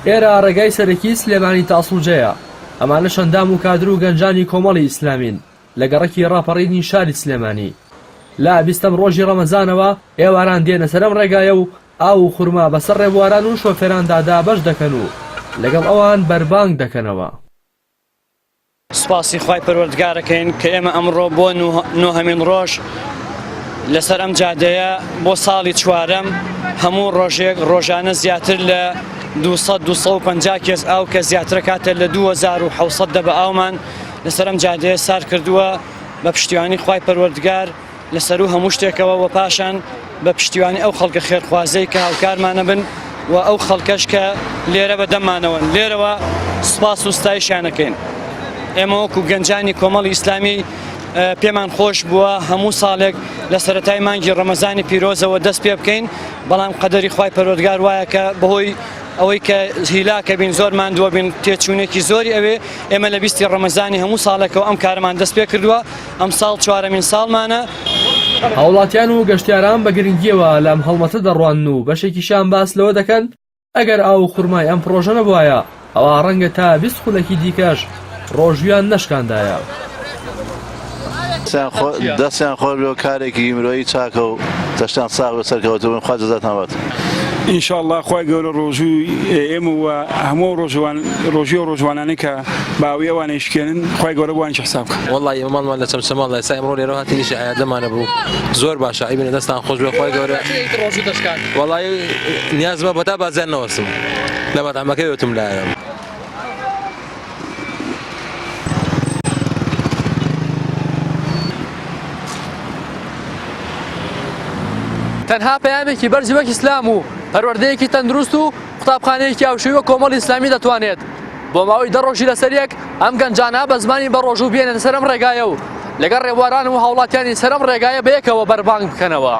ئێرە ڕێگای سەرەکی سلێمانی تا سڵجەیە، ئەمانەش ئەندام و کادر و گەنجانی کۆمەڵی ئیسلامین لە گەڕەکی ڕاپەڕینی شاری سلێمانی. لە بیستەم ڕۆژی ڕەمەزانەوە ئێواران دێنە سەر ئەم ڕێگایە و ئاو و خورما بەسەر ڕێبواران و شۆفێراندا دابەش دەکەن و لەگەڵ ئەوان بەربانگ دەکەنەوە. سوپاسی خوای پەروەردگارەکەین کە ئێمە ئەمڕۆ بۆ نۆهەمین ڕۆژ لەسەر ئەم جادەیە بۆ ساڵی چوارەم هەموو ڕۆژێک ڕۆژانە زیاتر لە 200 250 کێس ئاو کە زیاترە کاتە لە 2700 دەبە ئاومان لەسەر ئەم جادەیە سار کردووە بە پشتیوانی خوای پەروەردگار لە سەروو هەموو شتێکەوە و پاشان بە پشتیوانی ئەو خەڵکە خێرخوازەی کە هاوکارمانە بن و ئەو خەڵکەش کە لێرە بە دەمانەوەن لێرەوە سپاس و ستایشانەکەین ئێمە وەکو گەنجانی کۆمەڵی ئیسلامی پێمان خۆش بووە هەموو ساڵێک لە سەتای مانگی ڕەمەزانی پیرۆزەوە دەست پێ بکەین بەڵام قەدەری خی پەرۆدگار وایە کە بەهۆی ئەوەی کە هیلاکە بین زۆر ماندووە بین تێچوونێکی زۆری ئەوێ ئێمە لە بیستی ڕەمەزانی هەموو ساڵێکەوە ئەم کارمان دەست پێ کردووە ئەمساڵ چوارەمین ساڵمانە. هاوڵاتیان و گەشتیاران بە گرنگییەوە لەم هەڵمەتە دەڕوانن و بەشێکیشیان باس لەوە دەکەن، ئەگەر ئاو و خورمای ئەم پڕۆژە نەبوایە، ئەوا ڕەنگە تا بیست خولەکی دیکەش ڕۆژوویان نەشکاندایە. دەستیان خۆش بێ و کارێکی مرۆیی چاکە و تەشتان ساغ بێ سەرکەوتوو بن خوا جەزاتان باتن. ان شاء اللە خوای گەورە ڕۆژووی ئێمە و هەموو ئەو ڕۆژووە و ڕۆژوانانەی کە باوی ئەوان ئەیشکێنن خوای گەورە بۆیانش حساب بکا. وەڵڵا ئێمە ماڵمان لە چەمچەماڵ ئێستا ئێمڕۆ لێرەوە هاتین ئیشی عەیاد لەمانە بوو زۆر باشە عەیبنە دەستان خۆش بێ خوای گەورە وەڵڵا نیازمە بەتا بازیان نەوەستم لە مەتعەمەکەی وتم لایە. تەنها پەیامێکی بەرز وەک ئیسلام و پەروەردەیەکی تەندروست و. قوتابخانەیەکی هاوشێوەی وەک کۆمەڵی ئیسلامی دەتوانێت بۆ ماوەی دە ڕۆژی لەسەر یەک ئەم گەنجانە بە زمانی بە ڕۆژوو بێنێتە سەرم ڕێگایە و لەگەڵ ڕێبواران و هاوڵاتیانی سەرم ڕێگایە بەیەکەوە بەربانگ بکەنەوە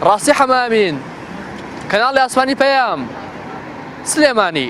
ڕاستی حەمامین کەناڵی ئاسمانی پەیام سلێمانی